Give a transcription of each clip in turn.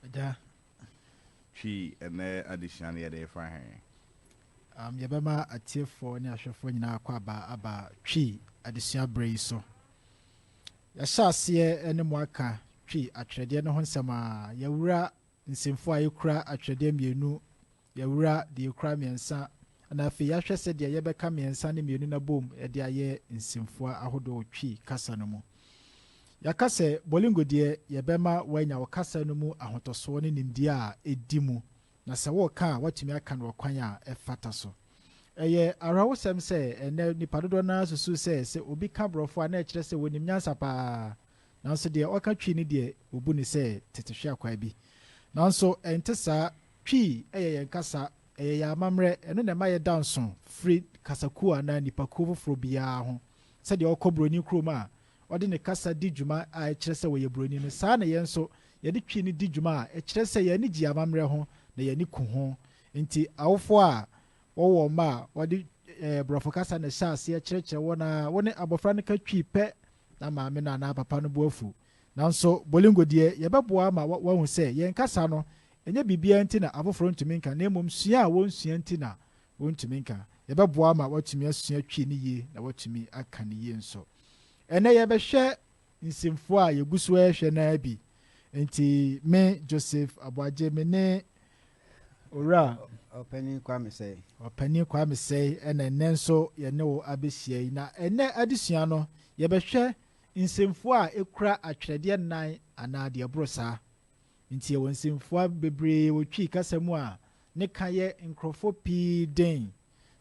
Agya. Twi, Ɛnnɛ adesua no yɛde refa he? Um, yɛbɛma atiefoɔ ne ahwɛfoɔ nyinaa akɔ aba aba Twi adesua berɛ yi so. Yɛahyɛ aseɛ ne mo aka Twi atwerɛdeɛ no ho nsɛm a yɛawura nsɛmfua a ɛkura atwerɛdeɛ mmienu Yɛawura deɛ ɛkura mmiɛnsa na afei yɛahwɛ sɛdeɛ yɛbɛka mmiɛnsa ne mmienu no abom de ayɛ nsɛmfua ahodoɔ Twi kasa no mu. Yɛaka sɛ Bolingo deɛ yɛbɛma woanya wo kasa no mu ahotɔsoɔ ne nimdeɛ a ɛdi mu na sɛ woreka a woatumi aka no ɔkwan a ɛfata so. Ɛyɛ awerɛhosɛm sɛ ɛnnɛ nnipa dodoɔ no ara susu sɛ sɛ obi ka Borɔfo a na ɛkyerɛ sɛ ɔnim nyansa pa ara nanso deɛ ɔka Twi no deɛ wɔbu no sɛ tetehweakwa bi. Nanso ɛnte saa Twi yɛ yɛn kasa, ɛyɛ yɛn amammerɛ, ɛno na ɛma yɛda nso firi kasakuo anaa nnipakuo foforɔ biara ho. Sɛdeɛ wokɔ buroni kurom a, ɔde ne kasa di dwuma a ɛkyerɛ sɛ ɔyɛ buroni no, saa ara na yɛn nso, yɛde Twi no di dwuma a ɛkyerɛ sɛ yɛn ani gye yɛn amammerɛ ho na yɛn ani ku ho. Enti awofoɔ a wɔwo wɔn mma a, wɔde Borɔfo kasa na ɛhyɛ aseɛ kyerɛkyerɛ wɔn ara. Wo ne abɔfra no ka Twi pɛ na maame no anaa papa no bo afu. Nanso Bolingo deɛ, yɛbɛboa ama wahu sɛ yɛn kasa no, ɛnyɛ biribiara nti na afoforo ntumi nka, na mmom sua a wɔnsua nti na wɔntumi nka. Yɛbɛboa ama watumi asua Twi no yie na watumi aka no yie nso. Ɛnnɛ yɛrebɛhwɛ nsɛmfua a yɛgu so rehwɛ no ara bi. Enti me, Joseph Aboagye, me ne Owura. Ɔpanin Kwame Sɛe. Ɔpanin Kwame Sɛe na ɛnnɛ nso yɛne wo abɛhyia yi. Na ɛnnɛ adesua no, yɛbɛhwɛ nsɛmfua a ekura atwerɛdeɛ nnan anaa deɛ ɛboro saa. Enti yɛwɔ nsɛmfua bebree wɔ Twi kasa mu a ne ka yɛ nkurɔfoɔ pii den.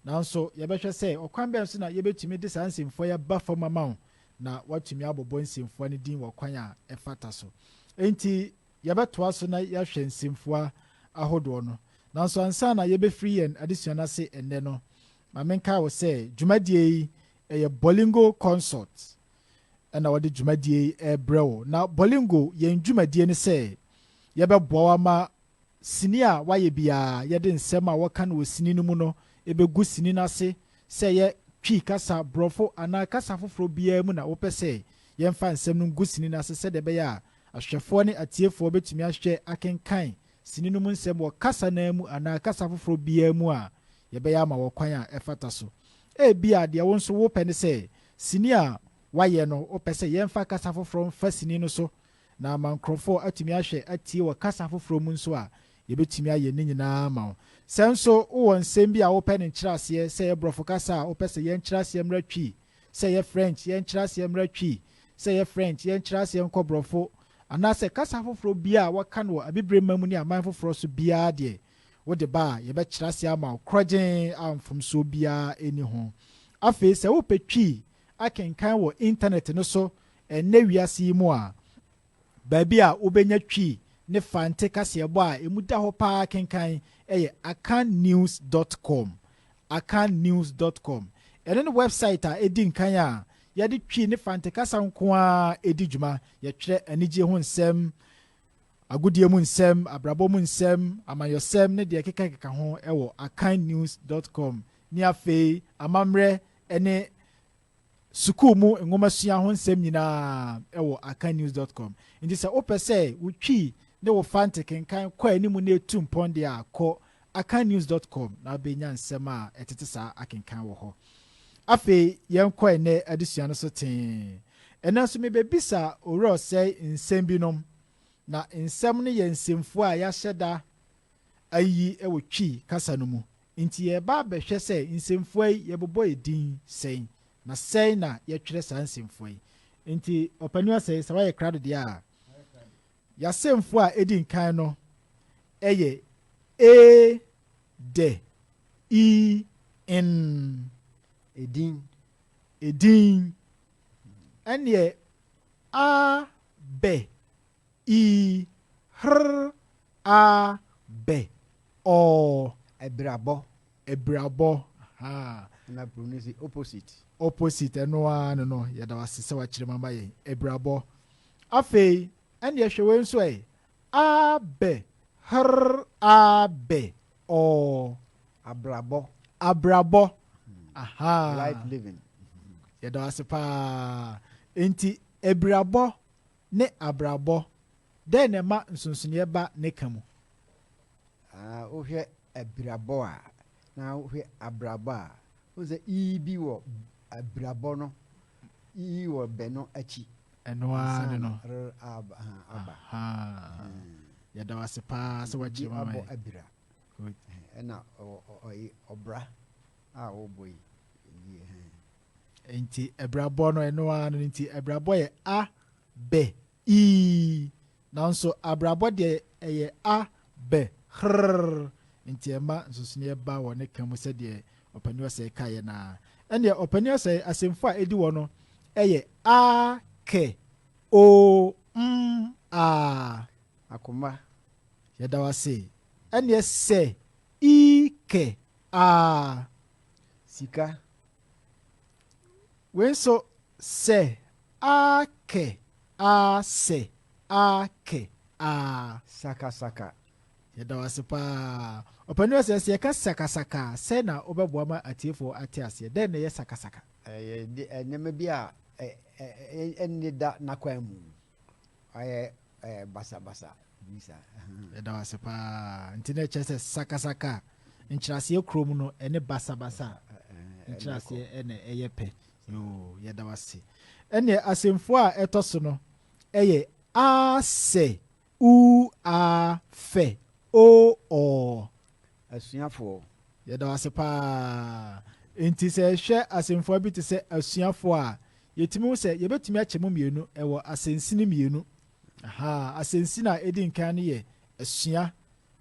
Nanso yɛbɛhwɛ sɛ ɔkwan bɛn so na yɛbɛtumi de saa nsɛmfua yi aba fam ama wo na woatumi abobɔ nsɛmfua no din wɔ kwan a ɛfata so. Enti yɛbɛtoa so na yɛahwɛ nsɛmfua ahodoɔ no. Nanso ansa na yɛbɛfiri yɛn adesua no ase ɛnnɛ no, ma menkae wo sɛ dwumadie yi Ɛyɛ Bolingo Consort na wɔde dwumadie yi rebrɛ wo. Na Bolingo, yɛn dwumadie ne sɛ yɛbɛboa wo ama sini a woayɛ biara, yɛde nsɛm a wɔka no wɔ sini no mu no bɛgu sini no ase, sɛ ɛyɛ Twi kasa, Borɔfo anaa kasa foforɔ biara mu na wopɛ sɛ yɛmfa nsɛm no ngu sini no ase sɛdeɛ ɛbɛyɛ a ahwɛfoɔ ne atiefoɔ bɛtumi ahwɛ, akenkan sini no mu nsɛm wɔ kasa no ara mu anaa kasa foforo biara mu a yɛbɛyɛ ama wɔ kwan a ɛfata so. Ebia deɛ wo nso wopɛ ne sɛ sini a wɔayɛ no, wopɛ sɛ yɛmfa kasa foforo mfa sini no so, na ama nkurɔfoɔ atumi ahwɛ atie wɔ kasa foforo mu nso a, yɛbɛtumi ayɛ ne nyinaa ama wo. Sɛ nso wowɔ nsɛm bi a wopɛ ne nkyerɛaseɛ, sɛ ɛyɛ Borɔfo kasa a wopɛ sɛ yɛn nkyerɛaseɛ mmra Twi Sɛ ɛyɛ French, yɛn nkyerɛaseɛ mmra Twi. Sɛ ɛyɛ French, yɛn nkyerɛaseɛ nkɔ Borɔfo. Anaasɛ kasa afoforɔ biara a wɔka no wɔ Abibire mma mu ne aman foforɔ so biara deɛ, wode ba a, yɛbɛkyerɛ aseɛ ama wo korɔgyenn a mfomsoɔ biara nni ho. Afei, sɛ wopɛ Twi akenkan wɔ Intanɛte no so ɛnnɛ wiase yi mu a, Baabi a wobenya Twi ne Fante kaseɛbɔ a emu da hɔ paa kenkan yɛ akannews dɔt kɔm, akannews dɔt kɔm. Ɛno ne wɛbsaet a edi nkan a yɛde Twi ne Fante kasa nko ara di dwuma. Yɛtwerɛ anigye ho nsɛm, agodie mu nsɛm, abrabɔ mu nsɛm, amanyɔsɛm ne deɛ ɛkekakeka ho wɔ akannews dɔt kɔm. Ne afei, amammerɛ ne sukuu mu nwomasua ho nsɛm nyinaa wɔ akannews dot com. Enti sɛ wopɛ sɛ wo Twi ne wo Fante kenkan kɔ anim na etu mpɔn deɛ a, kɔ akannews dot com na wobɛnya nsɛm a ɛtete saa akenkan wɔ hɔ. Afei yɛnkɔ ɛnnɛ adesua no so tee. Ɛnnɛ nso mebɛbisa Owura Ɔsɛe nsɛm binom, na nsɛm no yɛ nsɛmfua a yɛahyɛ da ayi wɔ Twi kasa no mu. Enti yɛreba abɛhwɛ sɛ nsɛmfua yi yɛbobɔ edin sɛn, na sɛn na yɛtwerɛ saa nsɛmfua yi. Enti Ɔpanin Ɔsɛe, sɛ woayɛ krado deɛ a, y'asɛmfua a edi nkan no yɛ e, dɛ, i, n. Edin. Edin. Ɛnneɛ a, bɛ, ii, hr, aa, bɛ, ɔɔ. Abirabɔ. Abirabɔ, ahaa. Ɛna koro no si opposite. Opposite, ɛno ara no no, yɛda wase sɛ wakyerɛ mu ama yɛn. Abirabɔ. Afei, ɛnneɛ hwɛ wei nso ɛ, aa, bɛ, hr, aa, bɛ, ɔɔ. Abrabɔ. Abrabɔ, ahaa. Life living. Yɛda wase paa. Enti, abirabɔ ne abrabɔ, dɛn na ɛma nsonsonoeɛ ba ne ka mu? Ah, wohwɛ abirabɔ a, na wohwɛ abrabɔ a, wohu sɛ i bi wɔ abirabɔ no, i wɔ bɛ no akyi. Ɛno ara ne no. R aba. Yɛda wo ase paa sɛ wakyerɛ mama yɛ. abira. Ɛna ɔbra a wobɔ yi. Enti abirabɔ no, ɛno ara no nti abirabɔ yɛ a, bɛ, ii. Nanso abrabɔ deɛ ɛyɛ a, bɛ, hrrr. Nti ɛma nsonsonoeɛ ba wɔ ne ka mu sɛdeɛ Ɔpanin Ɔsɛe kaeɛ no ara. Ɛnneɛ Ɔpanin Ɔsɛe asɛmfua a ɛdi hɔ no yɛ a, kɛ, oo, mm, aa. Akoma, yɛda wo ase. Ɛnneɛ sɛ, ii, kɛ, aa. Sika, Wei nso sɛ aa kɛ aa sɛ aa kɛ aa. Sakasaka. Yɛda wo ase paa. Ɔpanin ɔsɛ sɛ yɛka sakasaka a, sɛn na wobɛboa ma atiefoɔ ate aseɛ? Dɛn na ɛyɛ sakasaka? Ɛyɛ nneɛma bi a ɛnni da n'akwan mu. Wayɛ eh, basabasa bi saa. Yɛda wo ase paa. Nti na ɛkyerɛ sɛ sakasaka nkyerɛaseɛ kurom no ɛne basabasa nkyerɛaseɛ ɛna ɛyɛ pɛ. Yoo, yɛda wo ase. Ɛneɛ asɛmfua a ɛtɔ so no ɛyɛ asɛ, u a fɛ, o ɔ. asuafoɔ. Yɛda wo ase paa. Enti sɛ yɛhwɛ asɛmfua bi te sɛ asuafoɔ a, yɛtumi hu sɛ yɛbɛtumi akyɛ mu mmienu wɔ asɛnsini mmienu. Aha, asɛnsini a ɛdi nkan no yɛ asua,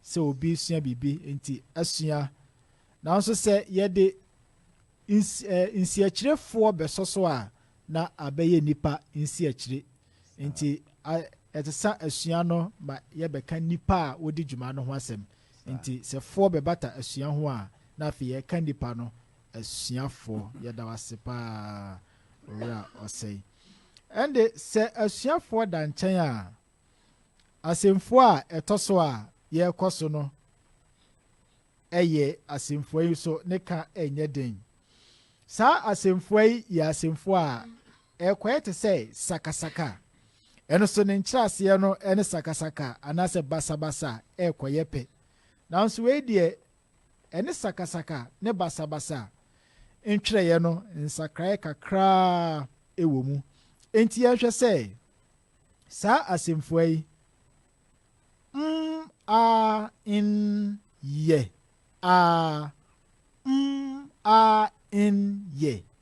sɛ obi resua biribi, enti asua. Nanso sɛ yɛde nsiakyirefoɔ bɛsɔ so a, na abɛyɛ nnipa nsiakyire. Enti, ɛsesa asua no ma yɛbɛka nnipa a wodi dwuma no ho asɛm. Enti, sɛ foɔ bɛbata asua ho a, na afei yɛka nnipa no, asuafoɔ. Yɛda wo ase paa, Owura Ɔsɛe. Ɛnde, sɛ asuafoɔ da nkyɛn a, asɛmfua a ɛtɔ so a yɛrekɔ so no yɛ asɛmfua yi so ne ka nyɛ den. Saa asɛmfua yi yɛ asɛmfua a Ɛrekɔyɛ te sɛ sakasaka. Ɛno nso ne nkyerɛaseɛ no ne sakasaka anaasɛ basabasa a ɛrekɔyɛ pɛ. Nanso wei deɛ, ɛne sakasaka ne basabasa ntwerɛeɛ no nsakraeɛ kakraa wɔ mu. Enti yɛnhwɛ sɛ saa asɛmfua yi, m-a-n yɛ, a-m-a-n yɛ,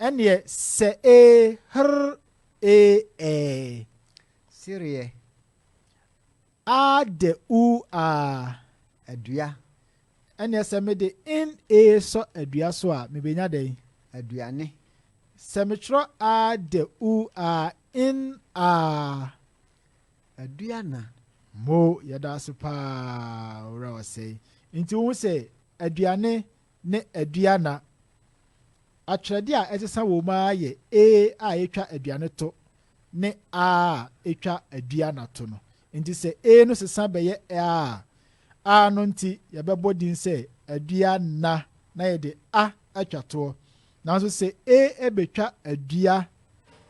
Ɛneɛ sɛ ee hrr ee ɛɛ. Sereɛ aa dɛ uu aa. Adua. Ɛneɛ sɛ mede in ee sɔ adua so a mebɛnya dɛn? Aduane. Sɛ metwerɛ aa dɛ uu aa in aa. Aduana. Mo, yɛda ase paa Owura Ɔsɛe. Nti wohu sɛ aduane ne aduana. Atwerɛdeɛ a ɛsesa wɔ mu ara yɛ A a ɛtwa aduane to ne A a ɛtwa aduana to no. Nti sɛ A no sesa bɛyɛ A a, A no nti yɛbɛbɔ din sɛ aduana na yɛde A atwa toɔ. Nanso sɛ A bɛtwa adua,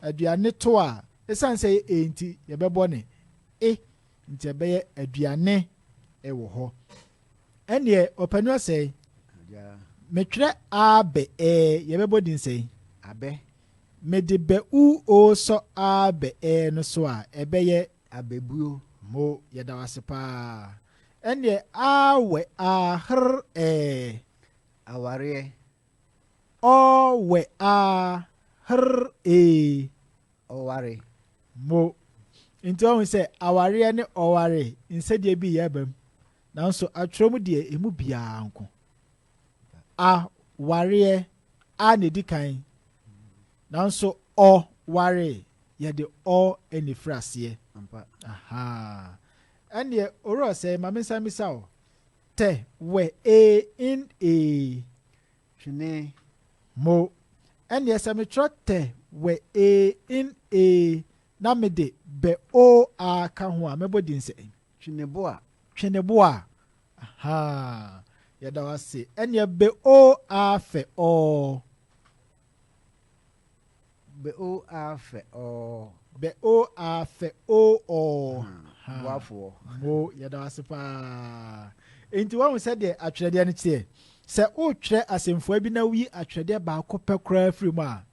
aduane to a, ɛsiane sɛ ɛyɛ A nti yɛbɛbɔ no E nti ɛbɛyɛ aduane wɔ hɔ. Ɛnneɛ ɔpɛ no sɛe. Metwerɛ aa bɛ ɛɛ yɛbɛbɔ din sɛe. Abɛ. Mede bɛ u o sɔ aa bɛ ɛɛ no so a ɛbɛyɛ. Abɛbuo. Mo yɛda wo ase paa. Ɛnneɛ aa wɛ aa hr ɛɛ. Awareɛ. Ɔ wɛ aa hr ee. ɔware. Mo. Nti ɔhu sɛ awareɛ ne ɔware nsɛdeɛ bi yɛ bam, nanso atwerɛ mu deɛ emu biara nko. A wareɛ, a na ɛdi kan, nanso ɔ ware yɛde ɔ ɛna ɛfiri aseɛ. Aha. Ɛneɛ owura ɔsɛe ma mensan misa o, tɛ, wɛ, ee, in, ee. Twene, Mo, ɛneɛ sɛ metwerɛ tɛ, wɛ, ee, in, ee, na mede, bɛ, o, a ka ho a, mɛbɔ din sɛn? Tweneboa, Tweneboa, ahaa, yɛda wo ase, ɛneɛ bɛ, o, a fɛ, ɔɔ. Bɛ oo aa fɛ ɔɔ. Bɛ oo aa fɛ oo ɔɔ. Haa boafoɔ. Mo, yɛda wo ase pa ara. Enti woahu sɛdeɛ atwerɛdeɛ no teɛ? Sɛ woretwerɛ asɛmfua bi na woyi atwerɛdeɛ baako pɛ koraa firi mu a,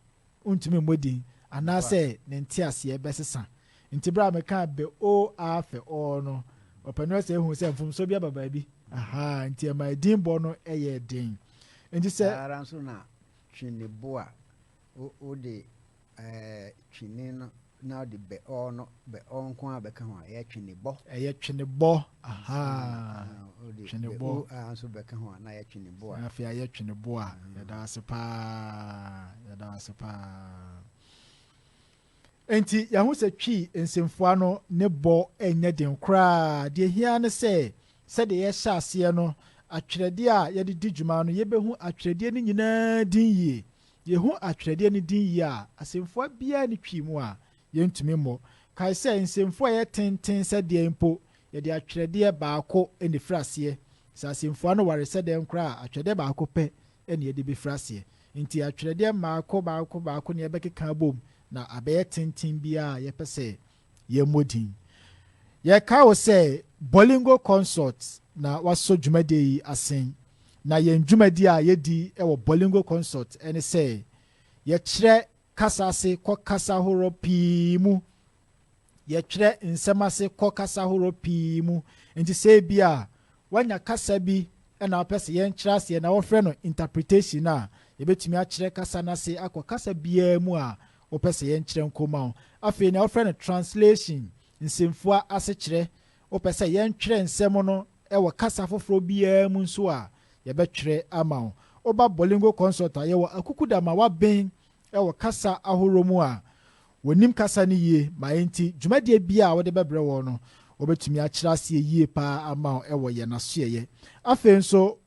wontumi mmɔ din, anaasɛ ne nteaseɛ bɛsesa. Enti berɛ a mekaa bɛ oo aa fɛ ɔɔ no, ɔpanin Ɔsɛe huu sɛ mfomsoɔ bi aba baabi. Ahaa, enti ɛmaa din bɔ no yɛɛ den. Enti sɛ. Saa ara nso na Tweneboa Wo wode ɛɛ twene no na wode bɛ ɔɔ no bɛ ɔɔ nko ara bɛka ho a ɛyɛ twene bɔ. Ɛyɛ twene bɔ ahaa twene bɔ. Wode bɛ o aa nso bɛka ho a na ayɛ twene boa. Na afei ayɛ twene boa. Yɛda wo ase paa yɛda wo ase paa. Enti yɛahu sɛ Twi nsɛmfua no ne bɔ nyɛ den koraa. Deɛ ɛhia ara ne sɛ, sɛdeɛ yɛhyɛ aseɛ no, atwerɛdeɛ a yɛde di dwuma no, yɛbɛhu atwerɛdeɛ no nyinaa din yie. Yɛhu atwerɛdeɛ no din yie a, asɛmfua biara nni Twi mu a yɛntumi mmɔ. Kae sɛ, nsɛmfua a ɛyɛ tenten sɛ deɛn mpo, yɛde atwerɛdeɛ baako na ɛfiri aseɛ. Sɛ asɛmfua no ware sɛ dɛn koraa a, atwerɛdeɛ baako pɛ na yɛde bɛfiri aseɛ. Enti atwerɛdeɛ mmaako mmaako mmaako na yɛbɛkeka abom na abɛyɛ tenten bi a yɛpɛ sɛ yɛmmɔ din. Yɛkae wo sɛ Bolingo Consort na wasɔ dwumadie yi asen. Na yɛn dwumadie a yɛdi wɔ Bolingo Consort ne sɛ yɛkyerɛ kasa ase kɔ kasa horoɔ pii mu. Yɛtwerɛ nsɛm ase kɔ kasa horoɔ pii mu, nti sɛ ebia woanya kasa bi na wopɛ sɛ yɛnkyerɛ aseɛ na wɔfrɛ no interpretation a, yɛbɛtumi akyerɛ kasa no ase akɔ kasa biara mu a wopɛ sɛ yɛnkyerɛ nkɔ ma wo. Afei nea wɔfrɛ no translation, nsɛmfua asekyerɛ, wopɛ sɛ yɛntwerɛ nsɛm no wɔ kasa foforɔ biara mu nso a, yɛbɛtwerɛ ama wo. Woba Bolingo Consult a, yɛwɔ Akuku Dama, Waben, wɔ kasa ahorow mu a wɔnim kasa no yie ma enti dwumadie biara a wode bɛbrɛ wɔn no wɔbɛtumi akyerɛ aseɛ yie pa ara ama wo wɔ yɛn asoɛeɛ. Afei nso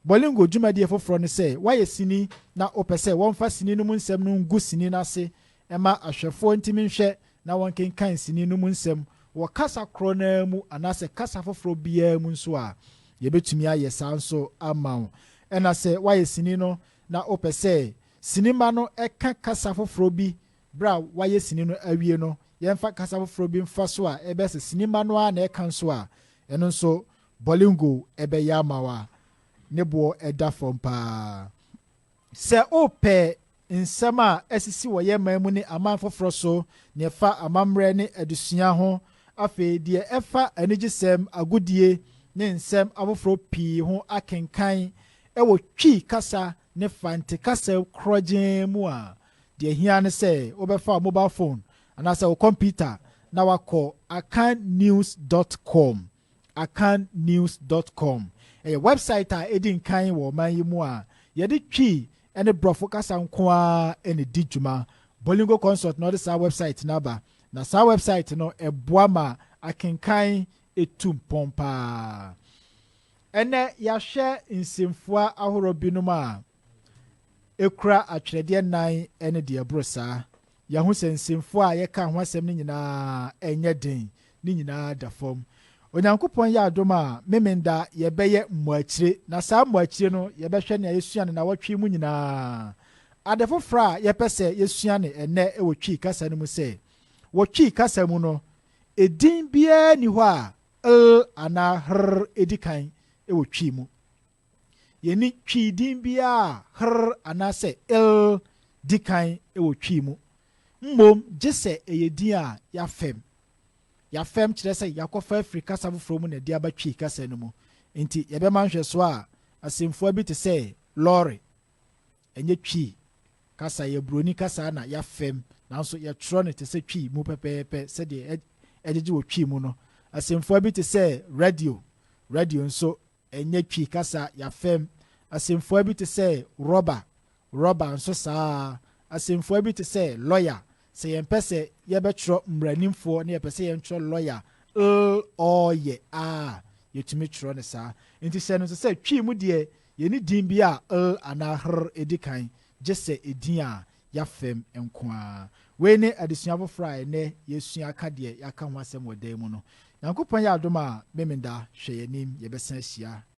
Bolingo dwumadie foforɔ ne sɛ woayɛ sini na wopɛ sɛ wɔmfa sini no mu nsɛm no ngu sini no ase mma ahwɛfoɔ ntumi nhwɛ na wɔnkenkan sini no mu nsɛm wɔ kasa korɔ no ara mu anaasɛ kasa foforɔ biara mu nso a, yɛbɛtumi ayɛ saa nso ama wo. Ɛna sɛ woayɛ sini no na wopɛ sɛ Sinima no ka kasa foforɔ bi berɛ a wɔayɛ sini no awie no. Yɛmfa kasa foforɔ bi mfa so a ɛbɛyɛ sɛ sinima no ara na ɛka nso a, ɛno nso Bolingo bɛyɛ ama wo a ne boɔ da fam paa. Sɛ wopɛ nsɛm a asisi wɔ yɛn man mu ne aman foforɔ so, deɛ ɛfa amammerɛ ne adesua ho, afei deɛ ɛfa anigyesɛm, agodie ne nsɛm afoforɔ pii ho akenkan wɔ Twi kasa ne Fante kasa korɔgyenn mu a, deɛ ɛhia ne sɛ wobɛfa wo mobile phone anaasɛ wo kɔmputa na wakɔ akannews dot com. Akannews dot com yɛ wɛbsaet a ɛdi nkan wɔ ɔman yi mu a yɛde Twi ne Borɔfo kasa nko ara na ɛdi dwuma. Bolingo Consult na ɔde saa wɛbsaet no aba, na saa wɛbsaet no boa ma akenkan tu mpɔn pa ara. Ɛnnɛ yɛahwɛ nsɛmfua ahorow binom a ekura atwerɛdeɛ nnan ne deɛ ɛboro saa. Yɛahu sɛ nsɛmfua a yɛka ho asɛm no nyinaa nyɛ den, ne nyinaa da fam. Onyankopɔn yɛ adom a, Memenda yɛbɛyɛ mmuakyire, na saa mmuakyire no yɛbɛhwɛ nea yɛsua no nnawɔtwe yi mu nyinaa. Ade foforɔ a yɛpɛ sɛ yɛsua no ɛnnɛ wɔ Twi kasa no mu sɛ, wɔ Twi kasa mu no, edin biara nni hɔ a 'l' anaa 'hr' di kan wɔ Twi mu. Yenni Twi din biara a 'hr' anaasɛ 'l' di kan wɔ Twi mu, mmom gye sɛ ɛyɛ din a yɛafɛm. Yɛafɛm kyerɛ sɛ yɛakɔfa afiri kasa foforɔ mu na ɛde aba Twi kasa no mu. Enti yɛbɛma nhwɛsoɔ a, asɛmfua bi te sɛ lɔre, Ɛnyɛ Twi kasa, ɛyɛ Buroni kasa na yɛafɛm, nanso yɛtwerɛ no te sɛ Twi mu pɛpɛɛpɛ sɛdeɛ ɛgyegye wɔ Twi mu no. Asɛmfua bi te sɛ radio, radio nso, ɛnyɛ Twi kasa, yɛafɛm. Asɛmfua bi te sɛ rɔba, rɔba nso saa ara. Asɛmfua bi te sɛ lɔya, sɛ yɛmpɛ sɛ yɛbɛtwerɛ mmaranimfoɔ na yɛpɛ sɛ yɛntwerɛ lɔya, l-ɔ-yɛ, a, yɛtumi twerɛ no saa. Enti hyɛ no nso sɛ Twi mu deɛ Yenni din bi a l anaa hr di kan gye sɛ edin a yɛafɛm nko ara. Wei ne adesua foforo a ɛnnɛ yɛresua ka deɛ yɛaka ho asɛm wɔ dan mu no. Nyankopɔn yɛ adom a, Memenda, hwɛ yɛn anim, yɛbɛsan ahyia.